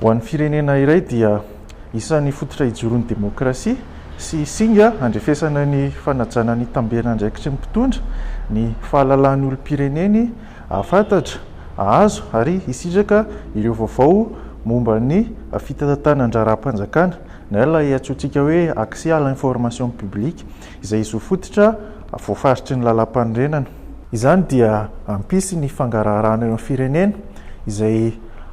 Ho an'ny firenena iray dia isan'ny fototra ijoron'ny demokrasia sy singa handrefesana ny fanajana ny tamberandraikitry ny mpitondra ny fahalalahan'ny olom-pireneny hahafantatra, hahazo ary hisitraka ireo vaovao momba ny fitantanan-draharaham-panjakana na ilay antsointsika hoe accès à l'information publique. izay zo fototra voafaritry ny Lalàmpanorenana. Izany dia hampisy ny fangaraharahana eo amin'ny firenena, izay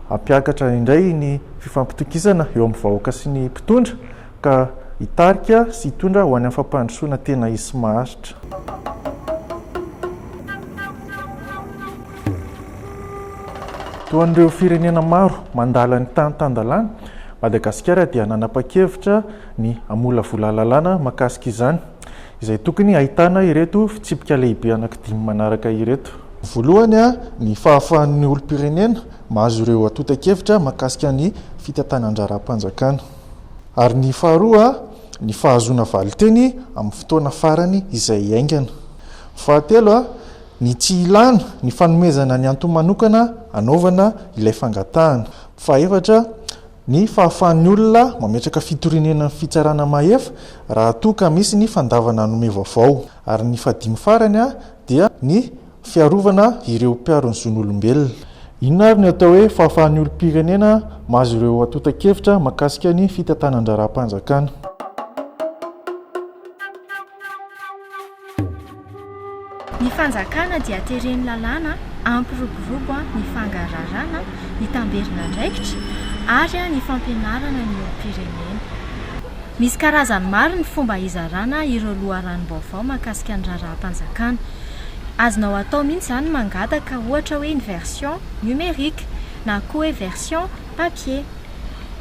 hampiakatra indray ny fifampitokisana eo amin'ny vahoaka sy ny mpitondra, ka hitarika sy hitondra ho any amin'ny fampandrosoana tena izy sy maharitra. Toa an'ireo firenena maro mandala ny tany tan-dalàna, Madagasikara dia nanapa-kevitra, ny hamolavola lalàna mahakasika izany, izay tokony hahitana ireto fitsipika lehibe anankidimy manaraka ireto. Voalohany, ny fahafahan'ny olom-pirenena mahazo ireo antontan-kevitra mahakasika ny fitantanan-draharaham-panjakana, ary ny faharoa, ny fahazoana valin-teny amin'ny fotoana farany izay haingana. Fahatelo, ny tsy ilàna ny fanomezana ny antony manokana hanaovana ilay fangatahana. Fahaefatra, Ny fahafahan'ny olona mametraka fitorianenan'ny fitsarana mahefa raha toa ka misy ny fandavana hanome vaovao. Ary ny fahadimy farany dia ny fiarovana ireo mpiaro ny zon'olombelona. Inona ary ny atao hoe fahafahan'ny olom-pirenena mahazo ireo antontan-kevitra mahakasika ny fitantanan-draharaham-panjakana? Ny fanjakana dia tereny lalàna ampiroborobo ny fangararana, ny tamberin'andraikitra ary ny fampianarana ny olom-pirenena. Misy karazany maro ny fomba hizarana ireo loharanom-baovao mahakasika ny raharaham-panjakana. Azonao atao mihitsy izany ny mangataka ohatra hoe ny version numérique na koa hoe version papier.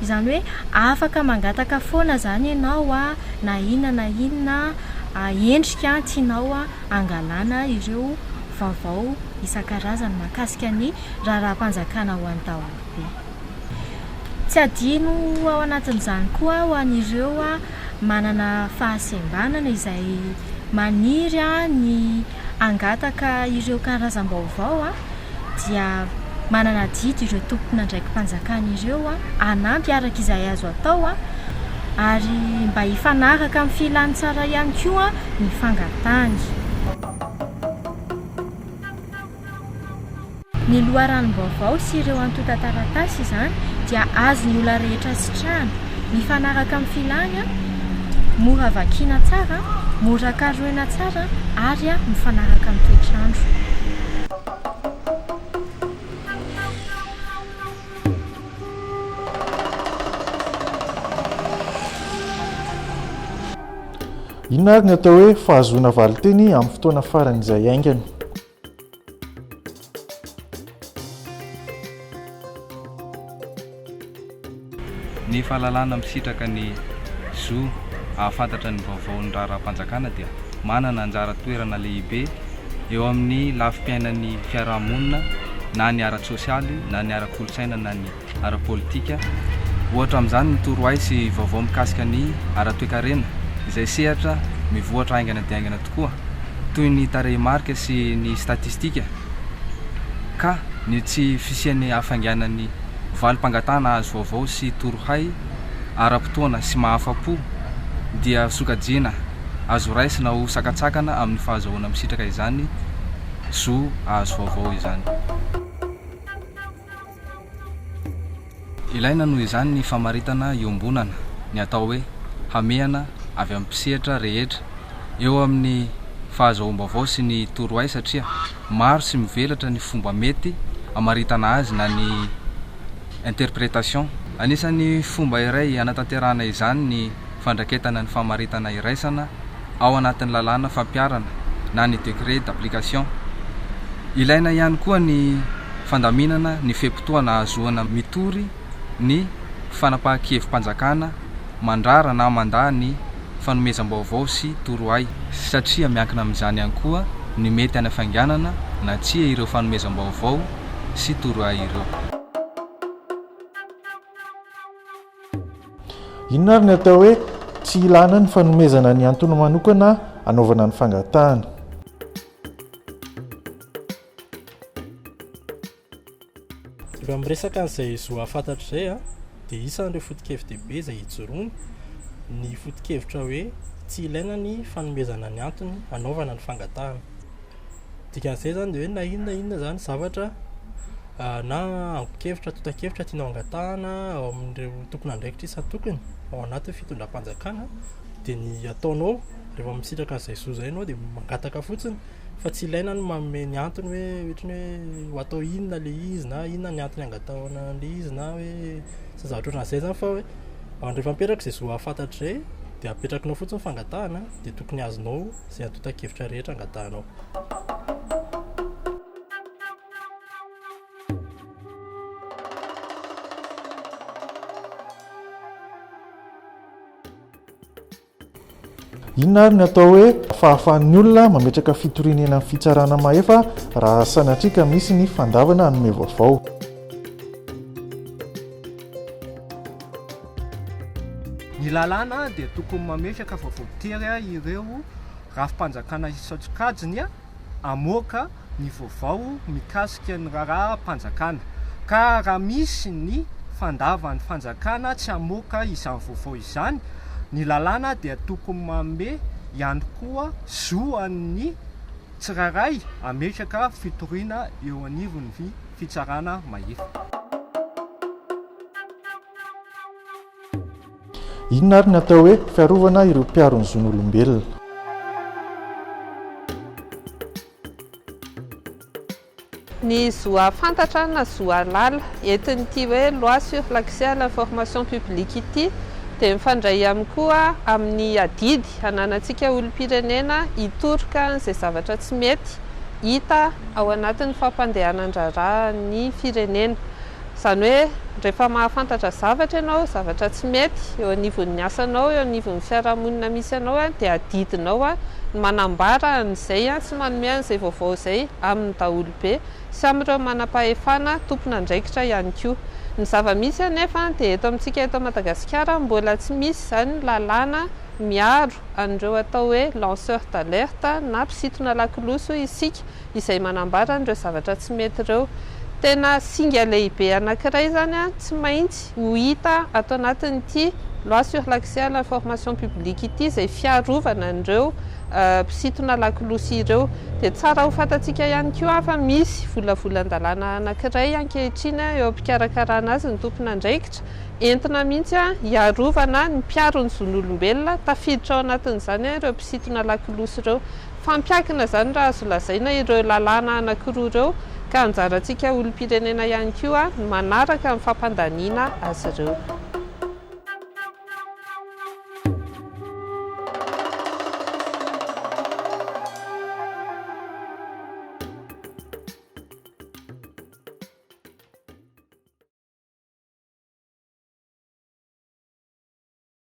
Izany hoe afaka mangataka foana izany ianao na inona na inona endrika tianao hangalana ireo vaovao isan-karazany mahakasika ny raharaham-panjakana ho an'ny daholobe. Tsy adino ao anatin'izany koa ho an'ireo manana fahasembanana izay maniry ny hangataka ireo karazam-baovao dia manana adidy ireo tompon'andraiki-panjakana ireo hanampy araka izay azo atao ary mba hifanaraka amin'ny filàn'ny tsara ihany koa ny fangatahany. Ny loharanom-baovao sy ireo antontan-taratasy izany dia azon'ny olona rehetra sitrahana, mifanaraka amin'ny filàny, mora vakiana tsara, mora karohina tsara ary mifanaraka amin'ny toetr'andro. Inona ary ny atao hoe fahazoana valinteny amin'ny fotoana faran'izay haingana? Ny fahalalana misitraka ny zo hahafantatra ny vaovaon'ny raharaham-panjakana dia manana anjara toerana lehibe eo amin'ny lafim-piainan'ny fiarahamonina na ny ara-tsosialy na ny ara-kolontsaina na ny ara-politika. Ohatra amin'izany ny torohay sy vaovao mikasika ny ara-toekarena, izay sehatra mivoatra haingana dia haingana tokoa, toy ny tarehimarika sy ny statistika, ka ny tsy fisian'ny hafainganan'ny valim-pangatahana hahazo vaovao sy torohay ara-potoana sy mahafa-po dia sokajiana azo raisina ho sakantsakana amin'ny fahazahoana misitraka izany zo hahazo vaovao izany. Ilaina noho izany ny famaritana iombonana, ny atao hoe hamehana avy amin'ny mpisehatra rehetra eo amin'ny fahazoam-baovao sy ny torohay satria maro sy mivelatra ny fomba mety hamaritana azy na ny interprétation. Anisan'ny fomba iray hanatanterahana izany ny fandraketana ny famaritana iraisana. ao anatin'ny lalàna fampiharana na ny décret d'application. Ilaina ihany koa ny fandaminana ny fe-potoana ahazoana mitory ny fanapahan-kevi-panjakana mandrara na mandà ny fanomezam-baovao sy torohay, satria miankina amin'izany ihany koa ny mety hanafainganana na tsia ireo fanomezam-baovao sy torohay ireo. Inona ary ny atao hoe tsy hilana ny fanomezana ny antony manokana anaovana ny fangatahana? Raha miresaka an'izay zo hahafantatra izay a, dia isan'ireo foto-kevi-dehibe izay ijoroany ny foto-kevitra hoe tsy ilaina ny fanomezana ny antony anaovana ny fangatahana. Dikan'izay izany dia hoe na inona na inona izany zavatra na angon-kevitra, antontan-kevitra tianao hangatahana ao amin'ireo tomponandraikitra isan-tokony ao anatin'ny fitondram-panjakana dia ny ataonao rehefa misitraka an'izay zo izay ianao dia mangataka fotsiny fa tsy ilaina ny manome ny antony hoe ohatra ny hoe ho atao inona ilay izy na inona ny antony hangatahana an'ilay izy na hoe izay zavatra ohatran'izay izany fa hoe rehefa mipetraka izay zo hahafantatra izay dia apetrakinao fotsiny ny fangatahana dia tokony azonao. Izay antontan-kevitra rehetra angatahanao. Inona ary ny atao hoe fahafahan'ny olona mametraka fitoriana eny amin'ny fitsarana mahefa raha sanatria ka misy ny fandavana hanome vaovao? Ny lalàna dia tokony mametraka fa voatery ireo rafi-panjakana isan-tsokajiny hamoaka ny vaovao mikasika ny raharaham-panjakana ka raha misy ny fandavan'ny fanjakana tsy hamoaka izany vaovao izany, ny lalàna dia tokony manome ihany koa zo an'ny tsirairay hametraka fitoriana eo anivon'ny fitsarana mahefa. Inona ary ny atao hoe fiarovana ireo mpiaro ny zon'olombelona? Ny zo hahafantatra na zo hahalala. Entin'ity hoe Loi sur l'accès à l'information publique ity dia mifandray ihany koa amin'ny adidy ananantsika olom-pirenena hitoroka an'izay zavatra tsy mety hita ao anatin'ny fampandehanan-draharahan'ny firenena. Izany hoe, rehefa mahafantatra zavatra ianao, zavatra tsy mety eo anivon'ny asanao, eo anivon'ny fiarahamonina misy anao, dia adidinao ny manambara an'izay sy manome an'izay vaovao izay amin'ny daholobe sy amin'ireo manam-pahefana tompon'andraikitra ihany koa. Ny zava-misy anefa dia eto amintsika eto Madagasikara mbola tsy misy izany lalàna miaro an'ireo atao hoe lanceurs d'alerte na mpisintona lakolosy hoy isika, izay manambara an'ireo zavatra tsy mety ireo. Tena singa lehibe anankiray izany tsy maintsy ho hita ato anatin'ity Loi sur l'accès à l'information publique ity izay fiarovana an'ireo mpisintona lakolosy ireo. Dia tsara ho fantatsika ihany koa fa misy volavolan-dalàna anankiray ankehitriny eo am-pikarakarana azy ny tompon'andraikitra, entina mihitsy hiarovana ny mpiaro ny zon'olombelona, tafiditra ao anatin'izany ireo mpisintona lakolosy ireo. Fampiankina izany raha azo lazaina ireo lalàna anankiroa ireo ka anjarantsika olom-pirenena ihany koa ny manaraka ny fampandaniana azy ireo.